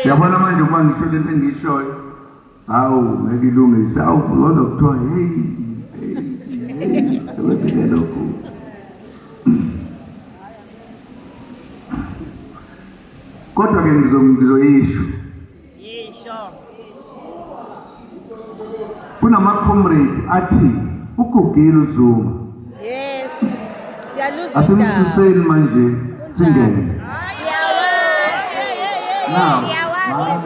yabona manje uma ngisho lento engiyishoyo hawu ngeke ilungise awu kodwa kuthiwa heyi sebenzeke lokhu kodwa-ke ngizoyisho kunamacomrade athi ugugile uzuma yes siyaluza asimsuseni manje singene siyawazi siyawazi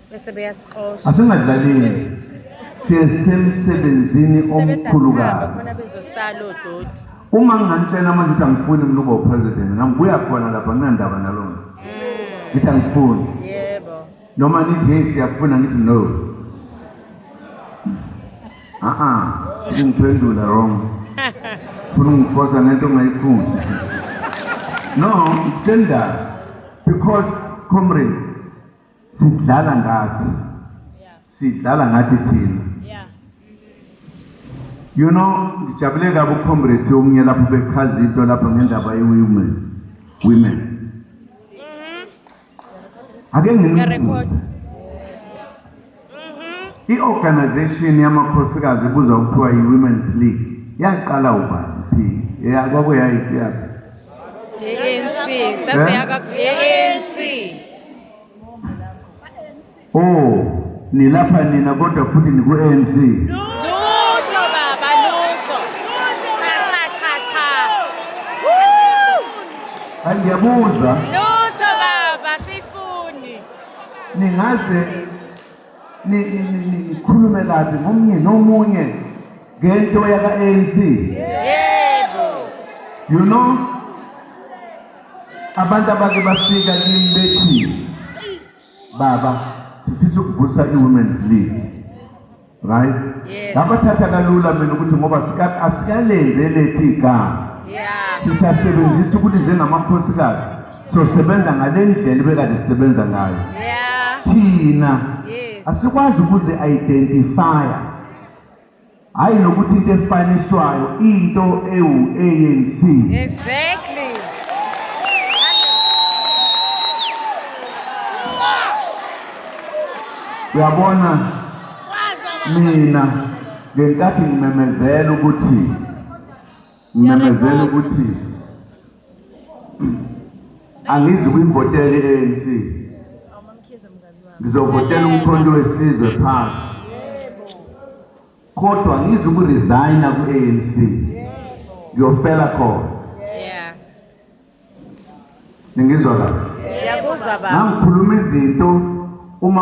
bese beyasixosha asingadlaleli siyesemsebenzini omkhulu kabi khona bezosala odoti uma ngingantshela manje ukuthi angifuni mina uba upresident ngambuya khona lapha nginandaba nalona mm. ngithi angifuni yebo noma nithi hey siyafuna ngithi no a-a ngingiphendula wrong funa ungifosa ngento ongayifuni no ngitshela because comrade sidlala ngathi sidlala ngathi thina you know ngijabule kabi ucomrade omunye lapho bechaza into lapho ngendaba ye-women women mm-hmm. ake nginibuze I-organization yamakhosikazi ebuzwa kuthiwa yi-women's league yaqala ubani phi yakwako yayiphi yakho ANC sasiyaka ANC oh nilapha nina kodwa futhi niku-ANC no. Andiabusa. ningaze nikhulume kabi ngomunye nomunye ngento yaka-anc yebo you know abantu abake bafika kimi bethi baba sifisa ukuvusa i-women's league right yes. ngabathatha kalula mina ukuthi ngoba asikalenzi elethi igama yeah. sisasebenzisa ukuthi njengamakhosikazi sosebenza ngale ndlela ebekade sisebenza ngayo yeah. thina yes. asikwazi ukuzi-identifya hhayi nokuthi into efaniswayo into ewu-anc exactly. uyabona mina ngenkathi ngimemezela ukuthi ngimemezela ukuthi angizi kuyivotela i-ANC ngizovotela umkhonto wesizwe phansi kodwa ngizi ukuresigna ku-ANC ngiyofela khona Ningizwa kahle? Siyakuzwa baba. Nangikhuluma izinto uma